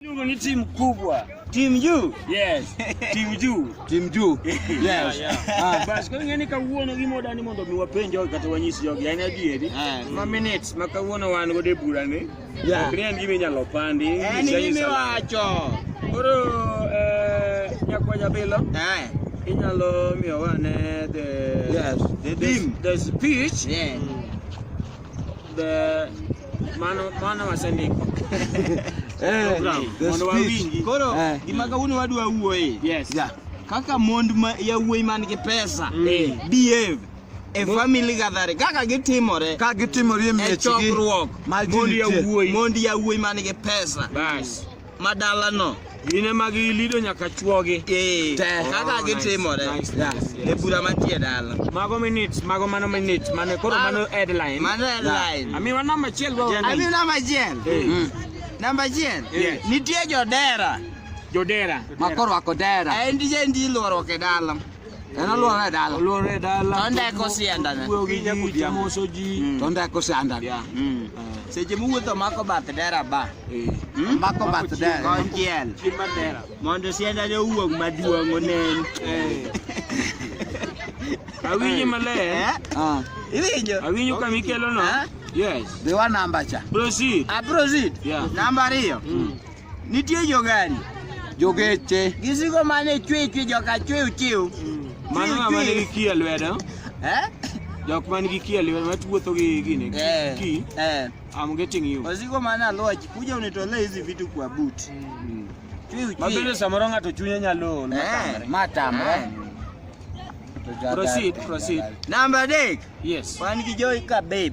Nyungu ni timu kubwa. Timu juu? Yes. Timu juu. Timu juu. Yes. Ah. Basi kwa ngani kawuono gi moda ni mondo miwapenje wa kata wanyisi jogi yani adieri. Ah. Ma minutes ma kawuono wan go de bura ni. Yeah. Ok en gimi nyalo pandi. En gimi wacho. Koro eh nyakwa jabilo. Eh. Inyalo miyo wane the Yes. The, the, the speech. Yeah. Mm. the mano mano wasendiko eh, mondo wawinji koro eh. gima kawuono wadwa wuoye yes. yeah. kaka mond ma yawuoyi man gi pesa mm. Eh. behave e family gathering kaka gitimore ka gitimore e miechgi e chokruok mond yawuoyi mond yawuoyi man gi pesa bas ma dalano gin ema gilido nyaka chwogi eh, te oh, kaka gitimore e bura mantie dala mago minutes mago mano minutes mano koro mano headline mano headline amiwa namba achiel amiwa namba achiel eh. mm. namba achiel nitie jodera jodera makoro ako dera en tije ndi luoruok e dala Kana luo re dala. Luo re dala. Tonde ko sianda ne. Wuoyo gi nyakuti moso ji. Mm. Tonde ko sianda. Yeah. Mm. Uh. Seche muwuotho mako bath dera ba. Eh. Hmm? Mako bath dera. Konchiel. Chimba dera. Mondo sianda ne owuog maduong' onen. Eh. Awinji maler. Eh? Ah. Iwinjo. Awinjo kama ikelo no. Eh? Yes. Dewa namba cha. Proceed. Ah, proceed. Yeah. Namba ariyo. Mm. Nitie jogari. Jogeche. Gisigo mane chwe chwe joka chwe uchiw. Mano ng'ama Chwe, chwe. nigi kiye lwedo. Eh? Jok man gi kiye lwedo matuwuotho gi gini. Eh. Ki. Eh. I'm getting you. Wasigo mane aluoch kuja unitolee hizi vitu kwa boot. Chwe uchwe. Mabende samoro ng'ato chunye nyalo ol. Eh. Matamre. Proceed, proceed. Namba adek. Yes. Wan gi Joy ka babe.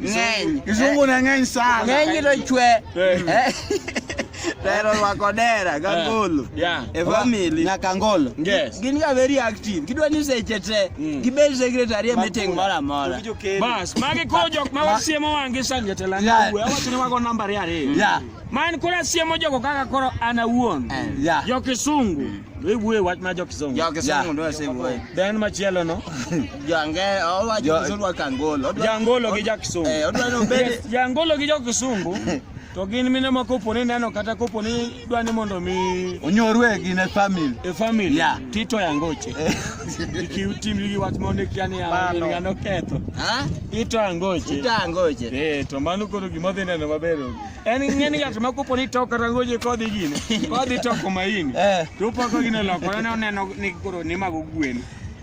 ng'eny kizungu ne ng'eny sana ng'eny to chwe Pero rwako dera gangolo yeah. e family nyaka ngolo yes. gin ga very active gidwa ni seche te mm. gibed secretary e meeting moro amora bas magi koro jok ma wasiemo wangi san jatela yeah. awacho ni wago namba ariyo ariyo yeah. man koro asiemo jogo kaka koro an awuon eh, yeah. jo kisungu mm. iwuoye wach ma jo kisungu jo kisungu yeah. ndio asiwuoye then machielo no Jange, owa jisuru wa Kangolo. Jangolo gi Jackson. Eh, odwa no bede. Jangolo gi Jakisungu. To gin mine ma kopo ni neno kata kopo ni dwa ni mondo mi onyorwe gi ne family. E family. Yeah. Tito yangoche. Eh. Iki utim gi wach ma ne kia ni ya no ketho. Ha? Tito yangoche. Tito yangoche. Eh, to mano koro gima dhi neno maber. En ng'eni ng'at ma kopo ni to kata ngoje kodhi gine. Kodhi to kuma ini. Eh. To pako gine lokore ne oneno ni koro ni mago gwen.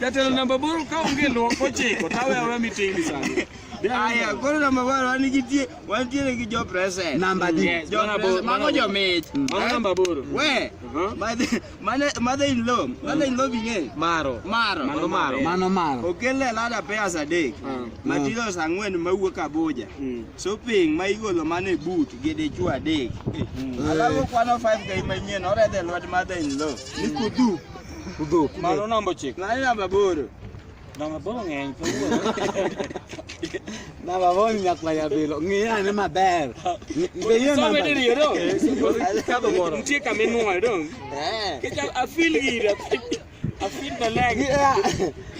Jatelo namba boro ka onge luok ochiko tawe awe meeting ni sani. Aya, koro namba boro wan gi tie, wan tiere gi jo present. Namba di. Yes, Jo mana present, boro. mago jo mich. Mano Eh? namba boro. We, Mhm. mother- mother- mother in law, mother in law bing'e. Maro. Maro. Mano maro. Mano maro. Okelne lada pairs adek. Mm. Materials ang'wen mawuok Abuja. Mm. Shopping ma igolo mana e boot gi dichwo adek. Alafu kwano 5k manyien oredhe lwet mother in law. Ni kudu. Udhok. Mano namba ochiko. Mano namba aboro. Namba aboro ng'eny kawuono. Namba aboro ni nyakwaya bilo. Ng'iya ane maber. Be yie Some namba. diriyo do. Kadho moro. Nitie kama inwoyo do. Eh. Kecha afil gira. Afil maleg. Yeah.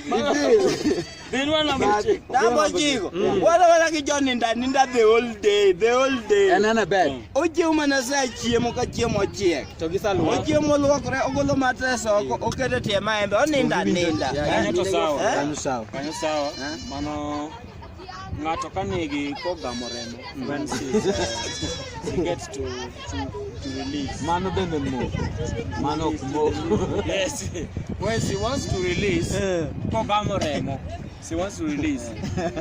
Ibil. Inua na mche. Nabo jigo. Wala wala ki John ninda ninda the whole day, the whole day. En en bed. Oje uma na sa chiemo ka chiemo chiek. To gi salu. Oje mo luokre ogolo matres oko okete tie maembe oninda ninda. Kanyo to sawa. Kanyo sawa. Kanyo sawa. Mano ng'ato ka nigi kogamo remo when she, uh, she gets to Man no bend them more. Man no more. Yes. When she wants to release, eh. come back more remo. She wants to release.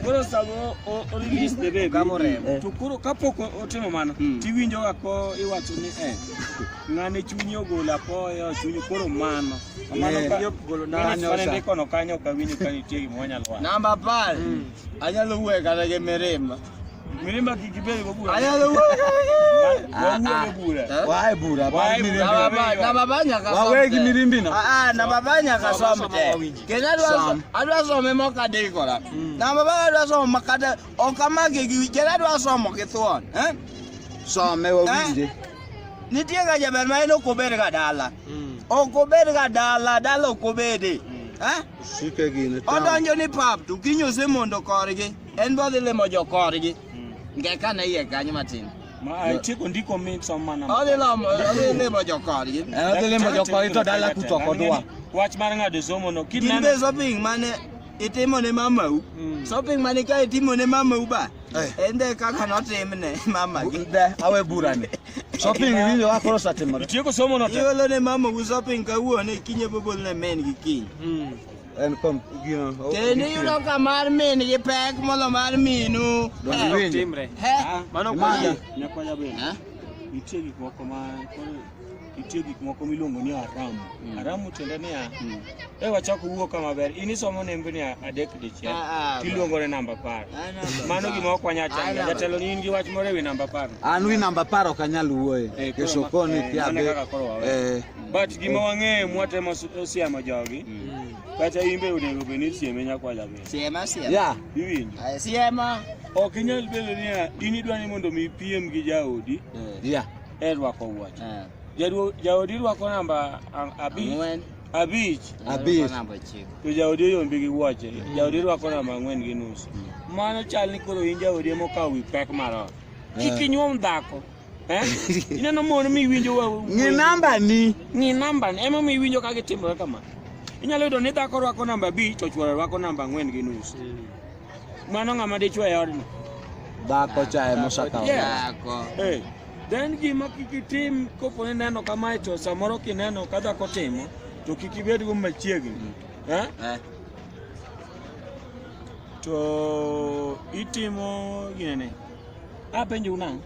Koro samo o release the baby. Kamo remo. Eh. To koro kapok otimo mano, hmm. tiwinjo ga ko iwacho ni eh. Ng'ane chunyi ogolo apoyo, chunyi koro mano. Mano eh. kanyo golo na anyo. Mano ndiko no kanyo kawinjo kanitie gimonyalo. Namba 10. Hmm. Anyalo wuoyo kata gi mirima. Mirima kikibeli kwa bure. Aya wewe. Wewe bure. Wae bure. Wae bure. Na babanya ka. Wae kimirimbi na. Ah na babanya ka sombe. Kenya dwa adwa some moka de kola. Hmm. Na baba adwa some makada okamage gi kenya dwa some kithuon. Eh? Some wewe bure. Nitie ga jaber ma en okobed ga dala. Hmm. Okobed ga dala, dala okobede. Hmm. Eh? Shike gine. Odonjo ni pap tu kinyo se mondo korgi. en bodhi limo jokorgi nge ka ne iye kanyo matin Chiko ndiko mi somo mana. Odhi limo odhi limo jokorgi. Eh, odhi limo jokorgi to dala kuto kodwa. Wach mar ng'ado somo no kineno. Kinde shopping mane itimo ne mamau. Mm. Shopping mane ka itimo ne mamau ba. Eh. Ende kaka notimne mama gi. Awe burani. Shopping winjo wa koro satimo. Tieko somo no. Iolo ne mamau shopping kawuono kinye bobol ne men gi kiny. Mm. en kom gino o- Kendo gitimo. iyudo ka mar min gi pek molo mar minu. Donge Eh, winjo? Timre. eh, Ah, Mano imagine, kwaya. nyakwaya bende eh? nitie gik moko ma koro nitie gik moko miluongo ni aramu aramu tiende niya e wachako wuo ka maber in isomo nembe ni adek dichiel Ah, ah, tiluongo ne namba apar Ah, namba mano apar. gima ok wanya Ah, changa namba jatelo ni in gi wach moro ewi namba apar an wi namba apar ok anyal wuoye Eh, koro kesho ma- koni eh, kia mano be kaka koro wawe. eh, But gima wang'eyo mwatemo siemo jogi mm. kata in be onego bed ni isieme nyakwa jaber. Siema siema. Yeah. Iwinjo. Aya siema. Ok inyal bedo niya in idwa ni mondo mi piem gi jaodi. Eh. Yeah. E rwako wuoch. Eh. Jaduo jaodi rwako namba abich. Ang'wen. Abich. Abich. Namba chiko. To jaodi oyombi gi wuoche. Mm. Jaodi rwako namba ang'wen gi nus. Mm. Mano chal ni koro in jaodi emokawo wi pek mar ot. Eh. Kik inyuom dhako. Eh? Ineno mon miwinjo wa. Ng'i namba ni. Ng'i namba ni. Ema miwinjo ka gitimore kama. Inyalo yudo ni dhako rwako namba abich to chwore rwako namba ang'wen gi nus. Hmm. Mano ng'ama dichwe e odno. Dhako cha ema osakawo. Dhako. Eh. Then gima kik itim kopo ni neno kamae to samoro kineno ka dhako timo to kik ibed go machiegni. Hmm. Eh? eh? to itimo gine ne Apenjo unang'.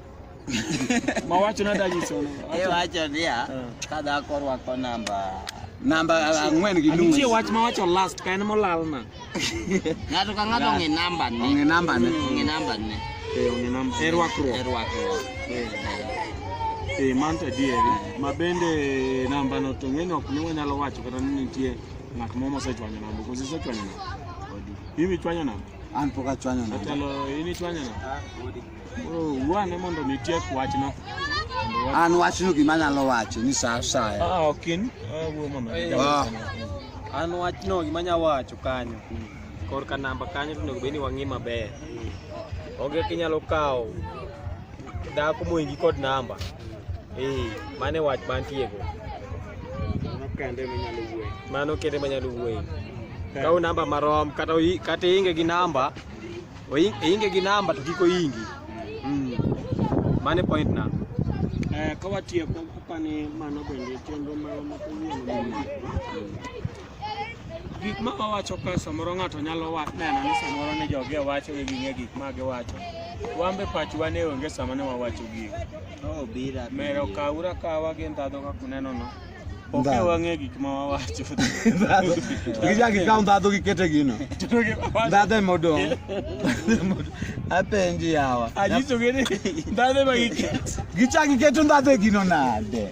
Ma wacho nada nyiso. Iwacho niya, ka dhako rwako namba namba ang'wen gi nus. Nitie wach ma wacho last ka en molal na. Ng'ato ka ng'ato ong'e namba ne. Ong'e namba ne. Ong'e namba ne. Eh, ong'e namba. E rwakruok. E rwakruok. Eh, man to adieri. Ma bende namba no to ng'eni ok ne wanyalo wacho kata ni nitie ng'at moro mosechwanyo namba. Kose sechwanyo namba. Mimi chwanyo namba. An pok achwanyo na. Jatelo in ichwanyo na. Wuane mondo mi tiek wachno. An wachno gima anyalo wacho ni sa asaya. Ah, ah ok in. Ah, wuo mondo. Ah. An wachno gima anyalo wacho kanyo. Korka namba kanyo to onego bed ni wang'i maber. Onge kinyalo kawo Dhako moingi kod namba. Eh, mane wach mantiego. Mano kende manyalo wuoyo. Mano kende manyalo wuoyo. Kaw namba marom kata kata inge gi namba. Inge gi namba to kiko ingi. Mm. Mane point na. Eh, kawatieko apani mano bende chenro ma mapowuono. gik ma wawacho ka samoro ng'ato nyalo neno ni samoro ni jogi wacho ni ging'e gik ma giwacho wan be pachwa ne onge sama ne wawacho gigo oh, mero kawura kawa gi ndhadho kaka unenono oke wang'e gik ma wawacho gichak ikaw ndhadho gikete gino ndhadho ema odong' apenji yawa anyisogi ni ndhadho ema giketo gichak giketo ndhadho e gino nade